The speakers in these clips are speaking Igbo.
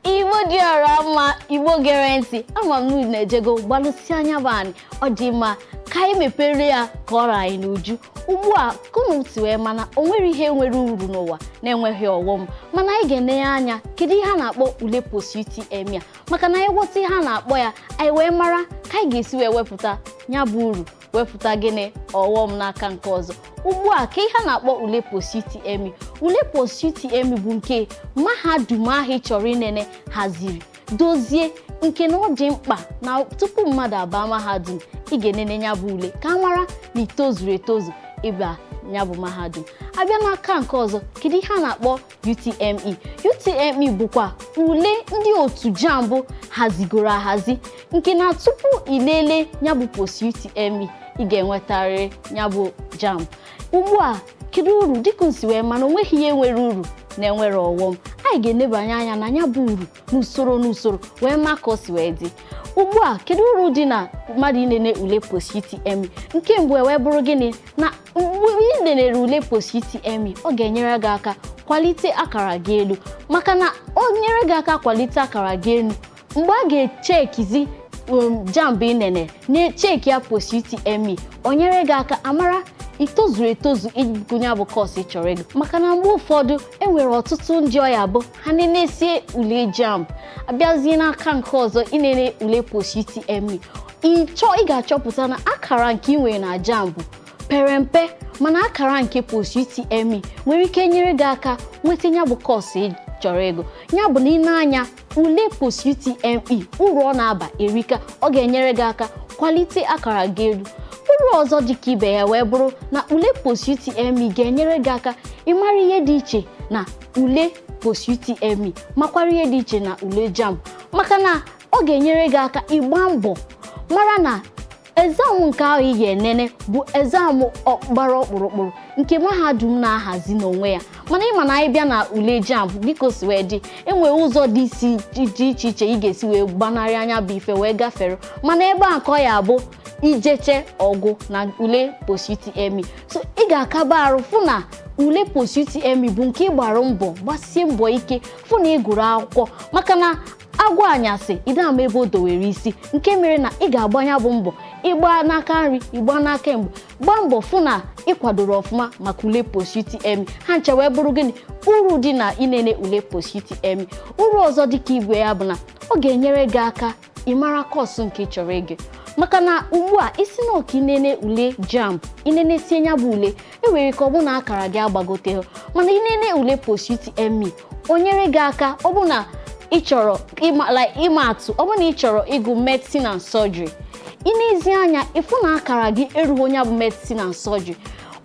igbo dị ọra mma igbo gere ntị ama m na-ejego gbalụsi anya bụ anyị ọ dị mma ka anyị mepere ya ka ọ ra anyị n'uju ugbu a ka unu si wee ma na o nwerọ ihe nwere uru n'ụwa na-enweghị ọghọm mana anyị ga-enenye anya kedu ihe a na-akpọ ule post UTME a maka na anyị ghọta ihe a na-akpọ ya anyị wee mara ka anyị ga-esi wee wepụta ya bụ uru wepụta gịnị ọghọm n'aka nke ọzọ ugbu a kee ihe a na-akpọ ule post-UTME ule post-UTME bụ nke mahadum ahụ ị chọrọ inene haziri dozie nke na ọ dị mkpa na tupu mmadụ abaa mahadum ị ga-enene nya bụ ule ka a mara na i tozuru etozu ịba nya bụ mahadum a bịa n'aka nke ọzọ kedu ihe a na-akpọ UTME UTME bụkwa ule ndị otu jamb hazigoro ahazi nke na tupu ilele nya bụ post UTME ị ga-enwetarịrị nya bụ jamb ugbu a kedu uru dịka unu si wee ma na o nweghị ihe nwere uru na-enwerọ ọghọm anyị ga-enebanye anya na nya bụ uru n'usoro n'usoro wee ma ka o si wee dị ugbu a kedu uru dị na mmadụ inene ule post UTME nke mbụ wee bụrụ gịnị na mgbe ị nenere ule post UTME ọ ga-enyere gị aka kwalite akara gị elu maka na o nyere gị aka kwalite akara gị elu mgbe a ga-echekizi um, jamb ị nene na-echeki ya post UTME o nyere gị aka a mara i tozuru etozu ịgụ nya bụ kọọsụ ị chọrọ ịgụ maka na mgbe ụfọdụ e nwere ọtụtụ ndị ọ ya-abụ ha nenesie ule jamb a bịazie n'aka nke ọzọ ịnene ule post UTME ịchọ ị ga-achọpụta na akara nke ị nwere na jamb pere mpe mana akara nke post UTME nwere ike nyere gị aka nweta nya bụ kọọsụ ị chọrọ ịgụ ya bụ na ịnene ule post UTME uru ọ na-aba erika ọ ga-enyere gị aka kwalite akara gị elu uru ọzọ dị ka ibe ya wee bụrụ na ule post UTME ga-enyere gị aka ịmara ihe dị iche na ule post UTME makwara ihe dị iche na ule JAMB maka na ọ ga-enyere gị aka ịgba mbọ mara na exam nke ahụ ị ga-enene bụ exam gbara ọkpụrụkpụrụ nke mahadum na-ahazi n'onwe ya mana ị ma na anyị bịa na ule JAMB dịka o si wee dị e nwere ụzọ dị iche iche ị ga-esi wee gbanarịa nya bụ ife wee gafere mana ebe a ka ọ ya-abụ ijeche ọgụ na ule post UTME so ị ga-akaba arụ fụ na ule post UTME bụ nke ị gbara mbọ gbasie mbọ ike fụ na ị gụrụ akwụkwọ maka na agwọ anyasị ị da ama ebe o dowere isi nke mere na ị ga-agba nya bụ mbọ ịgba n'aka nri ịgba n'aka ekpe gbaa mbọ fụ na ị kwadoro ọfụma maka ule post UTME ha ncha wee bụrụ gịnị uru dị na ịnene ule post UTME uru ọzọ dịka ibe ya bụ na ọ ga-enyere gị aka ị mara kọọsụ nke ị chọrọ ịgụ maka na ugbu a ị sị na ọ ka inene ule jamb ị nenesie nya bụ ule e were ka ọ bụ na akara gị agbagote mana inene ule post UTME o nyere gị aka ọ bụ na ị chọrọ ịma like ịma atụ ọ bụ na ị chọrọ ịgụ medicine and surgery ị nezie anya ị fụ na akara gị erughị nya bụ medicine and surgery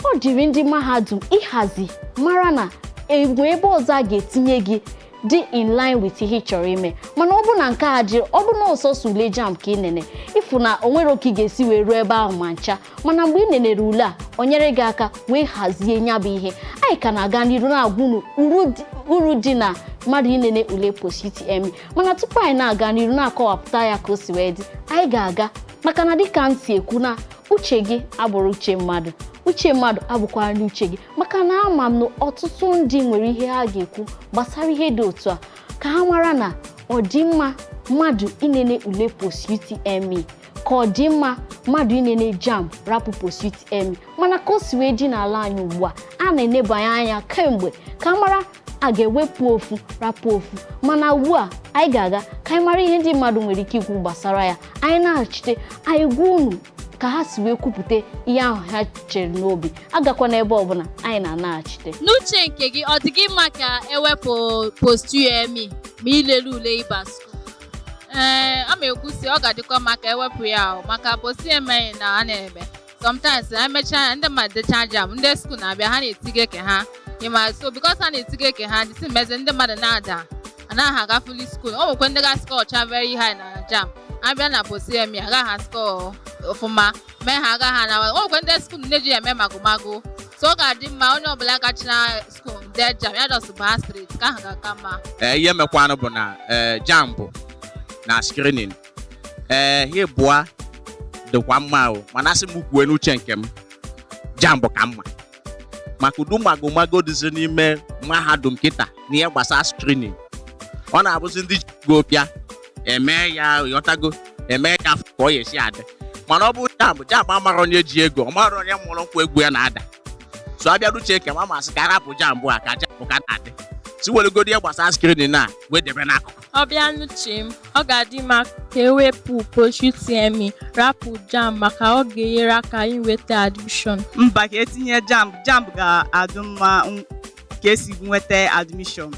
ọ dịrị ndị mahadum ịhazi mara na e nwe ebe ọzọ a ga-etinye gị dị in line with ihe ị chọrọ ime mana ọ bụ na nke a adịrọ ọ bụ na ọ sọsọ ule jamb ka ị nene ị fụ na o nwerọ ka ị ga-esi wee ruo ebe ahụ ma ncha mana mgbe ị nenere ule a o nyere gị aka wee hazie nya bụ ihe anyị ka na-aga n'iru na-agwa unu uru dị- uru dị na mmadụ inene ule post UTME mana tupu anyị na-aga n'iru na-akọwapụta ya ka o si wee dị anyị ga-aga maka na dịka m si ekwu na uche gị abụrọ uche mmadụ uche mmadụ abụkwanụ uche gị maka na ama m na ọtụtụ ndị nwere ihe ha ga-ekwu gbasara ihe dị otu a ka a mara na ọ dị mma mmadụ inene ule post UTME ka ọ dị mma mmadụ inene jamb rapụ post UTME mana ka o si wee dị n'ala anyị ugbu a a na-enebanye anya kemgbe ka a mara a ga-ewepụ ofu rapụ ofu mana ugbu a anyị ga-aga ka anyị mara ihe ndị mmadụ nwere ike ikwu gbasara ya anyị naghachite anyị gwa unu ka ha si wee kwupụta ihe ahụ ha chere n'obi agakwana ebe ọbụna anyị na-anaghachite n'uche nke gị ọ dị gị mma ka e wepụ post UTME ma ilele ule ịba skuul a ma ekwu sị ọ ga-adịkwa mma ka e wepụ ya maka post UTME na a na-eme sometimes ha emechaa ndị mmadụ dechaa jamb ndị skuul na-abịa ha na-etige ke ha ịma so because ha na-etige ke ha dịsị mezi ndị mmadụ na-ada anaghị aga fuli skuul o nwekwe ndị ga-eskọọcha very high na jamb a bịa na post UTME agaghị ha askọ ọfụma mee ha agaghị ha na o nwekwe ndị skuul na-eji ya eme magomago so ọ ga-adị mma onye ọbụla gachara skuul dee jamb ya just baa straight ke ahụ ga-aka mma ee ihe mekwanụ bụ na ee jamb na screening ee ha ịbụa dịkwa mma o mana a sị m kwue n'uche nke m jamb ka mma maka ụdị magomago dịzi n'ime mahadum kịta n'ihe gbasara screening ọ na-abụzi ndị ji ego bịa e mee ya ghọtago eme ya afọ ka ọ ya esi adị mana ọ bụ jamb jamb amarọ onye ji ego ọ marọ onye mụrụ nkwụ egwu ya na-ada so a bịa n'uche nke m a m asị ka a rapụ jamb a ka jamb ka na-adị si weregodi ihe gbasara screening a wee debe n'akụkụ ọ bịa n'uche m ọ ga-adị mma ka e wepụ post UTME rapụ jamb maka ọ ga-enyere aka inweta admission mba ka e tinye jamb jamb ga-adị mma ka e si nweta admission